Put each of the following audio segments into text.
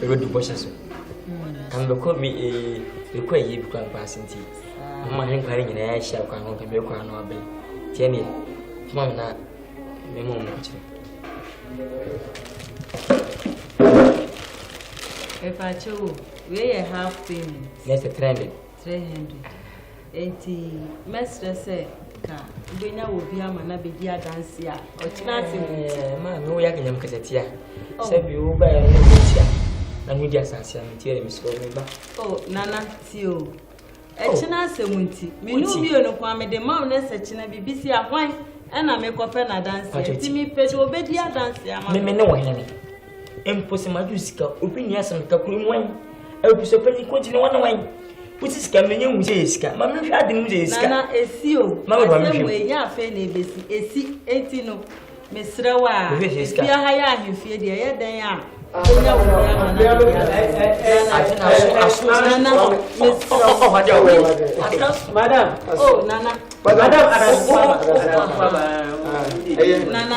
ɛbɛdu bɔhyɛ so ɛno bɛkɔ bi ɛkɔ ayie bi kora mpaase nti moma he nkwa no nyinaa ahyia kwan ho pɛ mɛkɔ ano abɛn nti ɛneɛ ma me na mema mu kyerɛ ɛpakyɛ o wei yɛ half payment na ɛsɛ trending 300 nti mɛsrɛ sɛ ka wobɛnya wɔ bi ama na bɛdi adanse a ɔkyena ase mu nti ma me woyɛ akanyam kasatia oh. sɛ bi wobaɛ no ne wotia na medi asase a metia ne mesrɛ me ba oh, nana tie o ɛkyena oh. asɛm nti mene obio no koa mede ma wo no sɛ kyena biribi si ahwan ɛna mekɔpɛ no adanseɛ nti mepɛ sɛ wobɛdi adanseɛ ama me ne wo hene Mpo sɛ magye wo sika, obi nni asɛm keka kuro mu wan? Abusua panyin kuro ti ne wana wan? Wosi sika menye nhu sɛ yɛ sika. Ma menhwɛ ade no mu sɛ yɛ sika. Nana esi o. Ma bɛba menhwɛ mu. Ɛnyɛ afei na ebesi. Esi enti no mesrɛ wo a. Efia ha yɛ ahemfie deɛ ɛyɛ dɛn a. Onya wo bia ma na de bia. Nana mesrɛ wo. Madam. Oh nana. Madam. Nana.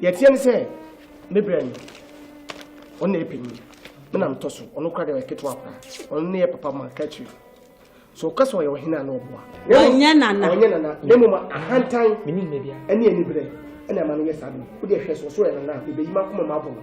Deɛ ɛteɛ ne sɛ ne berɛ no ɔno na yɛ panyin me na metɔ so ɔno kora deɛ ɔyɛ ketewa kora ɔno ne yɛ papa ma ka akyire so ɔka sɛ ɔyɛ ɔhene a na ɔboa ɔnyɛ nana ɔnyɛ nana na mmom ahantan ɛne aniberɛ ɛna ɛma no yɛ saa no wode ɛhwɛ so ɔso yɛ nana bɛbɛyi ma akoma mu abɔ no